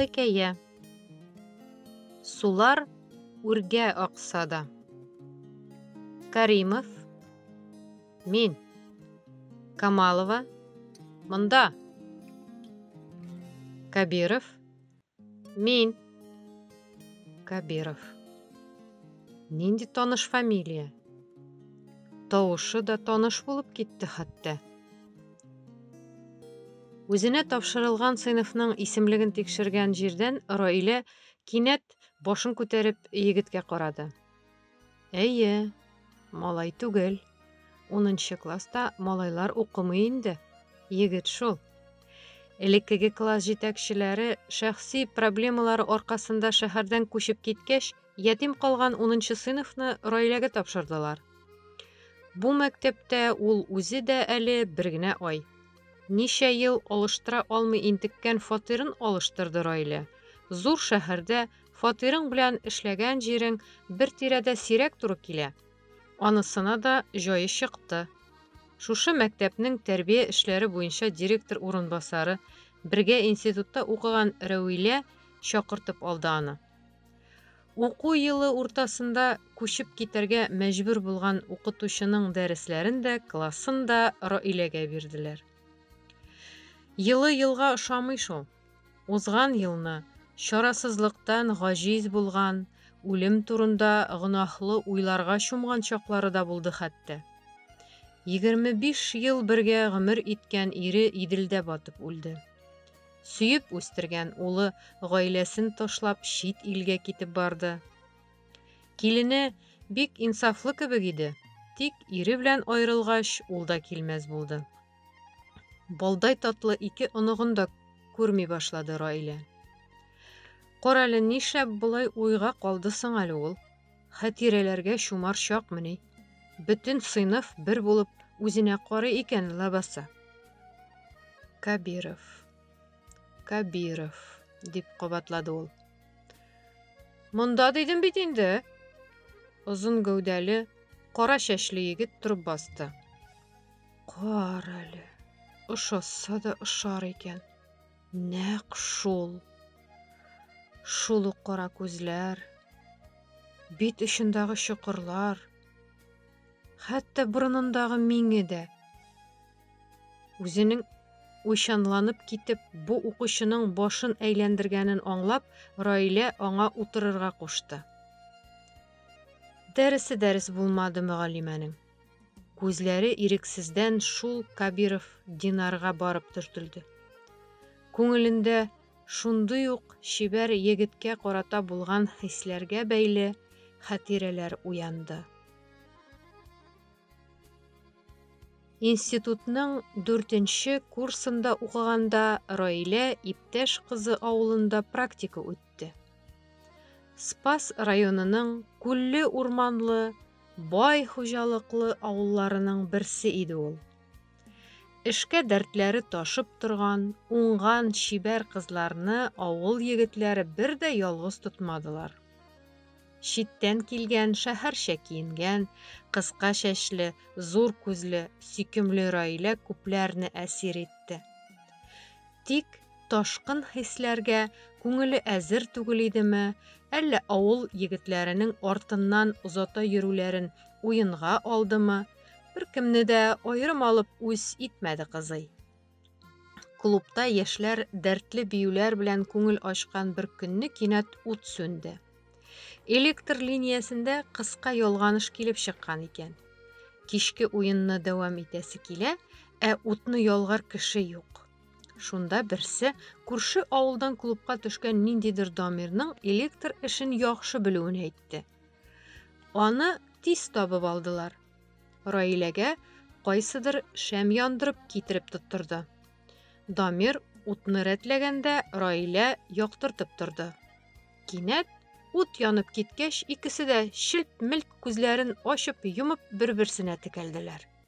Хикәя. Сулар үргә акса да. Каримов. Мин. Камалова. Монда. Кабиров. Мин. Кабиров. Нинди таныш фамилия? Тавышы да таныш булып китте хәтта. Үзенә тапшырылган сыйныфның исемлеген тикшергән җирдән Раилә кинәт башын күтәреп егеткә карады. Әйе, малай түгел. Унынчы класста малайлар укымый инде. Егет шул. Элеккеге класс җитәкчеләре шәхси проблемалары аркасында шәһәрдән күчеп киткәч, Ятим калган унынчы сыйныфны Раиләгә тапшырдылар. Бу мәктәптә ул үзе дә әле бер генә ай. Ничә ел алыштыра алмый интеккән фатирын алыштырды Раилә. Зур шәһәрдә фатирың белән эшләгән җирең бер тирәдә сирәк туры килә. Анысына да җае чыкты. Шушы мәктәпнең тәрбия эшләре буенча директор урынбасары, бергә институтта укыган Рәвилә чакыртып алды аны. Уку елы уртасында күчеп китәргә мәҗбүр булган укытучының дәресләрен дә, классын да Раиләгә бирделәр. Елы елга ошамый шул. Узган елны чарасызлыктан гаҗиз булган, үлем турында гөнаһлы уйларга чумган чаклары да булды хәтта. Егерме биш ел бергә гомер иткән ире Иделдә батып үлде. Сөеп үстергән улы гаиләсен ташлап чит илгә китеп барды. Килене бик инсафлы кебек иде, тик ире белән аерылгач, ул да килмәс булды. Балдай татлы ике оныгын да күрми башлады Раилә. Карале, нишләп болай уйга калды соң әле ул? Хәтирәләргә чумар чакмыни? Бөтен сыйныф бер булып үзенә карый икән лабаса. Кабиров. Кабиров, дип кабатлады ул. Монда дидем бит инде. Озын гәүдәле, кара чәчле егет торып басты. Кара әле. Ошаса да ошар икән. Нәкъ шул. Шул ук кара күзләр, бит очындагы чокырлар, хәтта борынындагы миңе дә. Үзенең уйчанланып китеп, бу укучының башын әйләндергәнен аңлап, Раилә аңа утырырга кушты. Дәресе дәрес булмады мөгаллимәнең. Күзләре ирексездән шул Кабиров Динарга барып төртелде. Күңелендә шундый ук чибәр егеткә карата булган хисләргә бәйле хатирәләр уянды. Институтның дүртенче курсында укыганда Раилә иптәш кызы авылында практика үтте. Спас районының күлле-урманлы бай хуҗалыклы авылларының берсе иде ул. Эшкә дәртләре ташып торган, уңган, чибәр кызларны авыл егетләре бер дә ялгыз тотмадылар. Читтән килгән, шәһәрчә киенгән, кыска чәчле, зур күзле, сөйкемле Раилә күпләрне әсир итте. Тик ташкын хисләргә күңеле әзер түгел идеме, әллә авыл егетләренең артыннан озата йөрүләрен уенга алдымы, беркемне дә аерым алып үз итмәде кызый. Клубта яшьләр дәртле биюләр белән күңел ачкан бер көнне кинәт ут сүнде. Электр линиясендә кыска ялганыш килеп чыккан икән. Кичке уенны дәвам итәсе килә, ә утны ялгар кеше юк. Шунда берсе күрше авылдан клубка төшкән ниндидер дамирның электр эшен яхшы белүен әйтте. Аны тиз табып алдылар. Раиләгә кайсыдыр шәм яндырып китереп тоттырды. Дамир утны рәтләгәндә Раилә яктыртып торды. Кинәт ут янып киткәч, икесе дә челт-мелт күзләрен ачып-йомып бер-берсенә текәлделәр.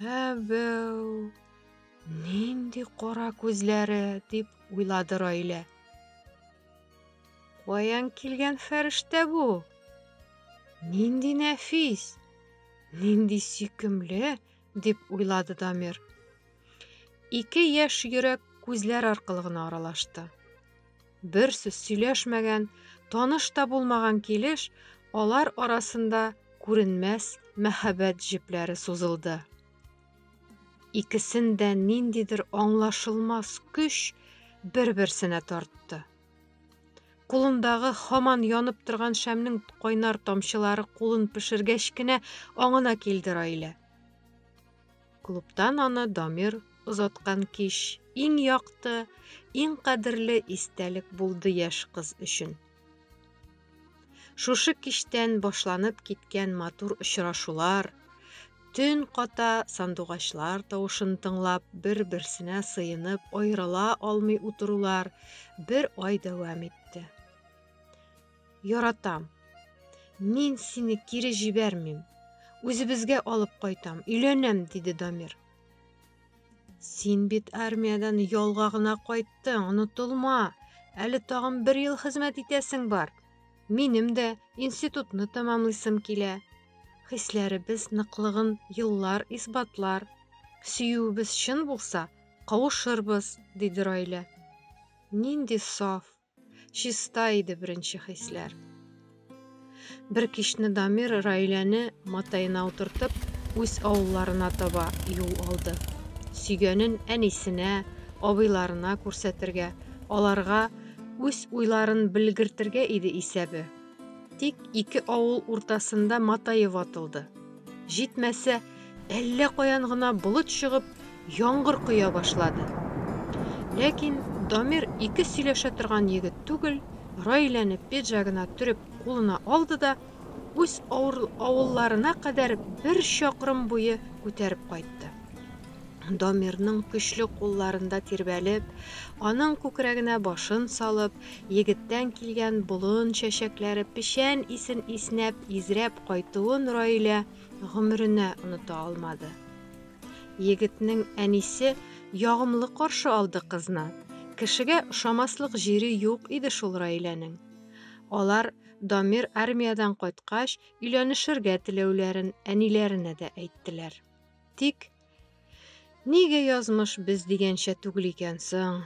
Әбәү! Нинди кара күзләре, дип уйлады Раилә. Каян килгән фәрештә бу? Нинди нәфис, нинди сөйкемле, дип уйлады Дамир. Ике яшь йөрәк күзләр аркылы гына аралашты. Бер сүз сөйләшмәгән, таныш та булмаган килеш, алар арасында күренмәс мәһабәт җепләре сузылды. Икесен дә ниндидер аңлашылмас көч бер-берсенә тартты. Кулындагы хаман янып торган шәмнең кайнар тамчылары кулын пешергәч кенә аңына килде Раилә. Клубтан аны Дамир озаткан кич иң якты, иң кадерле истәлек булды яшь кыз өчен. Шушы кичтән башланып киткән матур очрашулар, төн ката сандугачлар тавышын тыңлап, бер-берсенә сыенып, аерыла алмый утырулар бер ай дәвам итте. Яратам. Мин сине кире җибәрмим. Үзебезгә алып кайтам, өйләнәм, диде Дамир. Син бит армиядән ялга гына кайттың, онытылма. Әле тагын бер ел хезмәт итәсең бар. Минем дә институтны тәмамлыйсым килә. Хисләребез ныклыгын еллар исбатлар. Сөюебез чын булса, кавышырбыз, диде Райлә. Нинди саф, Чиста иде беренче хисләр. Бер кичне Дамир Раиләне матаена утыртып, үз авылларына таба юл алды. Сөйгәнен әнисенә, абыйларына күрсәтергә, аларга үз уйларын белгертергә иде исәбе. Тик ике авыл уртасында матае ватылды. Җитмәсә, әллә каян гына болыт чыгып, яңгыр коя башлады. Ләкин Дамир ике сөйләшә торган егет түгел, Раиләне пиджагына төреп кулына алды да үз авылларына кадәр бер чакрым буе күтәреп кайтты. Дамирның көчле кулларында тирбәлеп, аның күкрәгенә башын салып, егеттән килгән болын чәчәкләре печән исен иснәп, изрәп кайтуын Раилә гомеренә оныта алмады. Егетнең әнисе ягымлы каршы алды кызны, кешегә ошамаслык җире юк иде шул Раиләнең. Алар Дамир армиядән кайткач, өйләнешергә теләүләрен әниләренә дә әйттеләр. Тик. Нигә язмыш без дигәнчә түгел икән соң?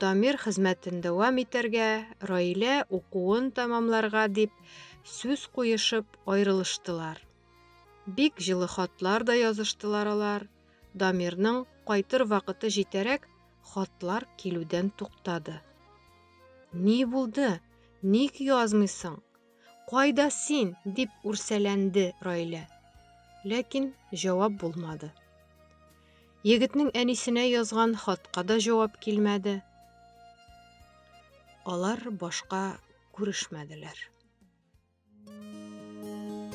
Дамир хезмәтен дәвам итәргә, Раилә укуын тәмамларга дип сүз куешып аерылыштылар. Бик җылы хатлар да языштылар алар. Дамирның кайтыр вакыты җитәрәк, хатлар килүдән туктады. Ни булды? Ник язмыйсың? Кайда син? дип үрсәләнде Раилә. Ләкин җавап булмады. Егетнең әнисенә язган хатка да җавап килмәде. Алар башка күрешмәделәр.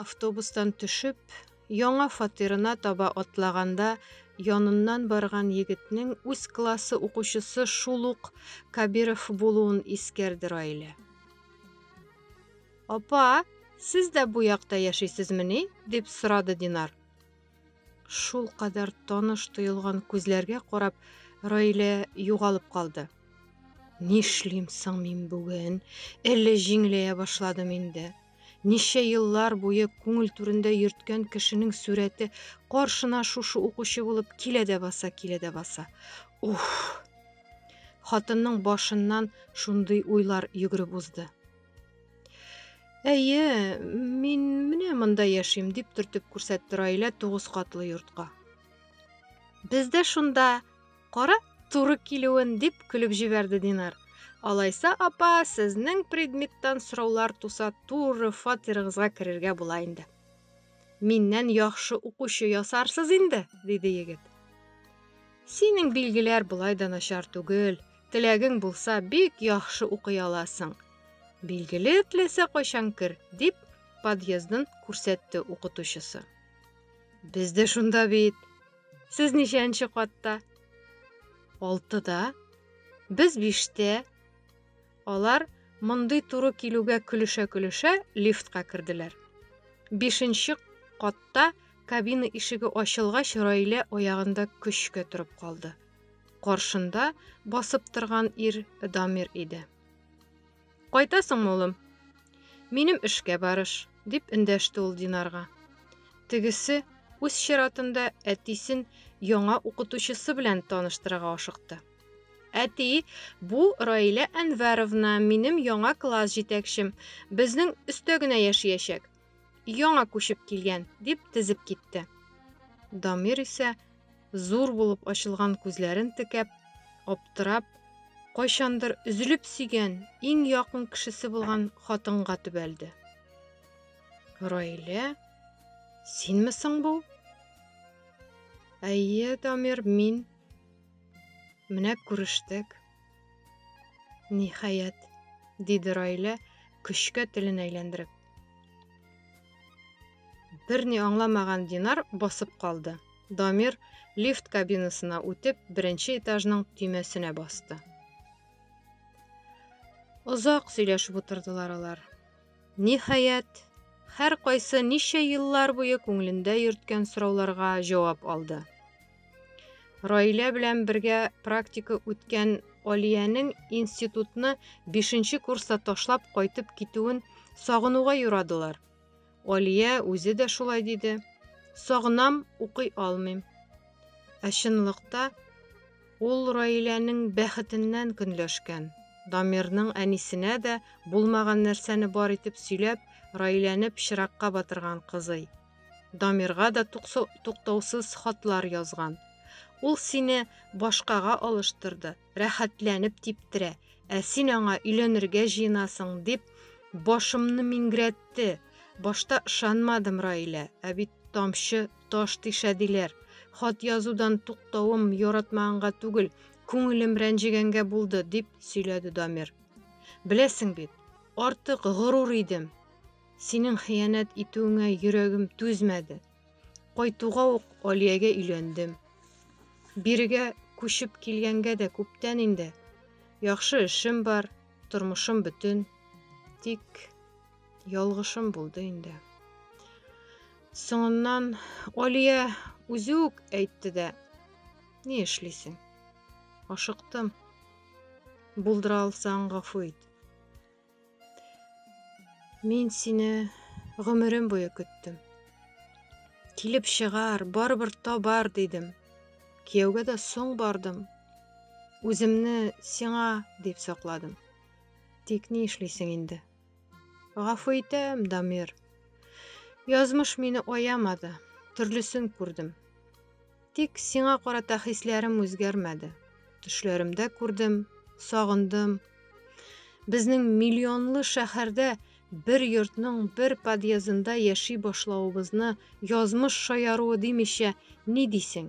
Автобустан төшеп, яңа фатирына таба атлаганда, яныннан барган егетнең үз классы укучысы шул ук Кабиров булуын искәрде Раилә. Апа, сез дә бу якта яшисезмени? дип сорады Динар. Шул кадәр таныш тоелган күзләргә карап, Раилә югалып калды. Нишлим соң мин бүген? Әллә җиңеләя башладым инде. Ничә еллар буе күңел түрендә йөрткән кешенең сурәте каршына шушы укучы булып килә дә баса, килә дә баса. Уф! Хатынның башыннан шундый уйлар йөгереп узды. Әйе, мин менә монда яшим, дип төртеп күрсәтте Раилә тугыз катлы йортка. Бездә шунда, кара, туры килүен, дип көлеп җибәрде Динар. Алайса, апа, сезнең предметтан сораулар туса, туры фатирыгызга керергә була инде. Миннән яхшы укучы ясарсыз инде, диде егет. Синең билгеләр болай да начар түгел. Теләгең булса, бик яхшы укый аласың. Билгеле теләсә кайчан кер, дип подъездын күрсәтте укытучысы. Без дә шунда бит. Сез ничәнче катта? Алтыда. Без биштә. Алар, мондый туры килүгә көлешә-көлешә, лифтка керделәр. Бишенче катта кабина ишеге ачылгач, Раилә аягында көчкә торып калды. Каршында басып торган ир Дамир иде. Кайтасыңмы, улым? Минем эшкә барыш, дип эндәште ул Динарга. Тегесе үз чиратында әтисен яңа укытучысы белән таныштырырга ашыкты. Әти, бу Раилә Әнвәровна, минем яңа класс җитәкчем. Безнең өстә генә яшиячәк. Яңа күчеп килгән, дип тезеп китте. Дамир исә, зур булып ачылган күзләрен текәп, аптырап, кайчандыр өзелеп сөйгән, иң якын кешесе булган хатынга төбәлде. Раилә, синме соң бу? Әйе, Дамир, мин. Менә күрештек. Ниһаять, диде Райлә, көчкә телен әйләндереп. Берни аңламаган Динар басып калды. Дамир лифт кабинасына үтеп, беренче этажның төймәсенә басты. Озак сөйләшеп утырдылар алар. Ниһаять, һәркайсы ничә еллар буе күңелендә йөрткән сорауларга җавап алды. Раилә белән бергә практика үткән Алиянең институтны бишенче курста ташлап кайтып китүен сагынуга юрадылар. Алия үзе дә шулай диде. Сагынам, укый алмыйм. Ә чынлыкта Ул Раиләнең бәхетеннән көнләшкән. Дамирның әнисенә дә булмаган нәрсәне бар итеп сөйләп, Раиләне пычракка батырган кызый. Дамирга да туктаусыз хатлар язган. Ул сине башкага алыштырды, рәхәтләнеп типтерә, ә син аңа өйләнергә җыенасың, дип башымны миңгрәтте. Башта ышанмадым, Раилә, ә бит тамчы таш тишә диләр. Хат язудан туктавым яратмаганга түгел, күңелем рәнҗегәнгә булды, дип сөйләде Дамир. Беләсең бит, артык горур идем. Синең хыянәт итүеңә йөрәгем түзмәде. Кайтуга ук Алиягә өйләндем. Бирегә күчеп килгәнгә дә күптән инде. Яхшы эшем бар, тормышым бөтен. Тик ялгышым булды инде. Соңыннан Алия үзе үк әйтте дә, Ни эшлисең? Ашыктым. Булдыра алсаң, гафу ит. Мин сине гомерем буе көттем. Килеп чыгар, барыбер табар, дидем. Кияүгә дә соң бардым. Үземне сиңа дип сакладым. Тик ни эшлисең инде? Гафу итәм, Дамир. Язмыш мине аямады, төрлесен күрдем. Тик сиңа карата хисләрем үзгәрмәде. Төшләремдә күрдем, сагындым. Безнең миллионлы шәһәрдә бер йортның бер подъездында яши башлавыбызны язмыш шаяруы димичә ни дисең?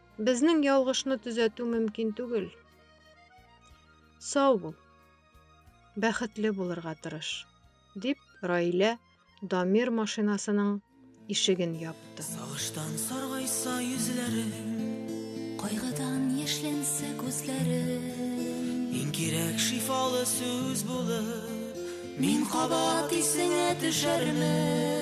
Безнең ялгышны төзәтү мөмкин түгел. Сау бул. Бәхетле булырга тырыш, дип Раилә Дамир машинасының ишеген япты. Сагыштан саргайса йөзләрем, кайгыдан яшьләнсә күзләрем. Иң кирәк шифалы сүз булып, мин кабат исеңә төшәрмен.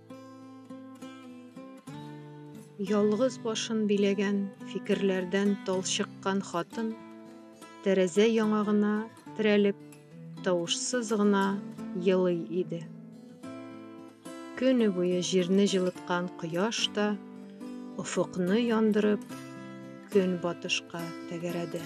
Ялгыз башын биләгән фикерләрдән талчыккан хатын, тәрәзә яңагына терәлеп, тавышсыз гына елый иде. Көне буе җирне җылыткан кояш та офыкны яндырып, көн батышка тәгәрәде.